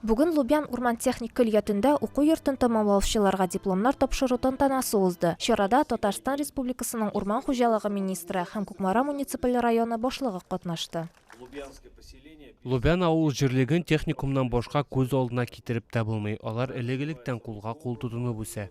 Бүген Лубян урман-техник көллиятендә уку йортын тәмамлаучыларга дипломнар тапшыру тантанасы узды. Чарада Татарстан Республикасының урман хуҗалыгы министры һәм Кукмара муниципаль районы башлыгы катнашты. Лубян авыл җирлеген техникумнан башка күз алдына китереп тә булмый, алар элек-электән кулга-кул тотынып үсә.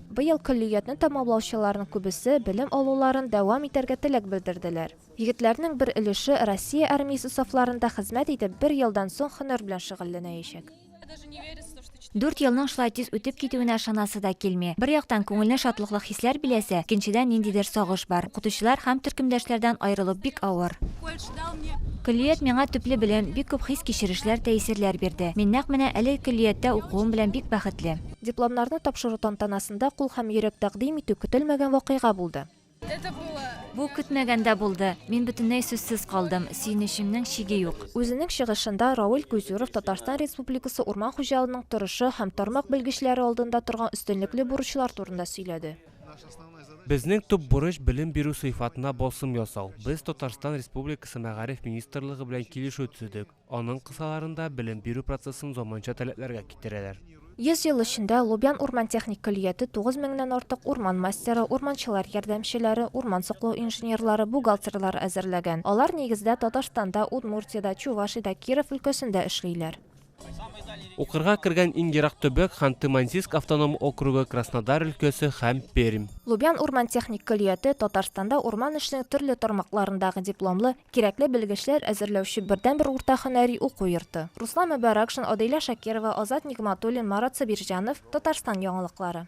Быел көллиятне тәмамлаучыларның күбесе белем алуларын дәвам итәргә теләк белдерделәр. Егетләрнең бер өлеше Россия армиясе сафларында хезмәт итеп, бер елдан соң һөнәр белән шөгыльләнәячәк. Дүрт елның шулай тиз үтеп китүенә ышанасы да килми. Бер яктан, күңелне шатлыклы хисләр биләсә, икенчедән, ниндидер сагыш бар. Укытучылар һәм төркемдәшләрдән аерылу бик авыр. Көллият миңа төпле белем, бик күп хис-кичерешләр, тәэсирләр бирде. Мин нәкъ менә әлеге көллияттә укуым белән бик бәхетле. Дипломнарны тапшыру тантанасында кул һәм йөрәк тәкъдим итү көтелмәгән вакыйга булды. Бу көтмәгәндә булды. Мин бөтенләй сүзсез калдым. Сөенечемнең чиге юк. Үзенең чыгышында Рауль Кузюров Татарстан Республикасы урман хуҗалының торышы һәм тармак белгечләре алдында торган өстенлекле бурычлар турында сөйләде. Безнең төп бурыч, белем бирү сыйфатына басым ясау. Без Татарстан Республикасы Мәгариф министрлыгы белән килешү төзедек. Аның кысаларында белем бирү процессын заманча таләпләргә китерәләр. Йөз ел эчендә Лубян урман техник көллияте тугыз меңнән артык урман мастеры, урманчылар ярдәмчеләре, урман саклау инженерлары, бухгалтерлар әзерләгән. Алар, нигездә, Татарстанда, Удмуртиядә, Чувашиядә, Киров өлкәсендә эшлиләр. Укырга кергән иң ерак төбәк, Ханты-Мансийск автоном округы, Краснодар өлкәсе һәм Пермь. Лубян урман техник көллияте Татарстанда урман эшенең төрле тармакларындагы дипломлы, Кирәкле белгечләр әзерләүче бердәнбер урта һөнәри уку йорты. Руслан Мөбаракшин, Адыйлә Шакирова, Азат Нигъматуллин, Марат Сабирҗанов, Татарстан яңалыклары.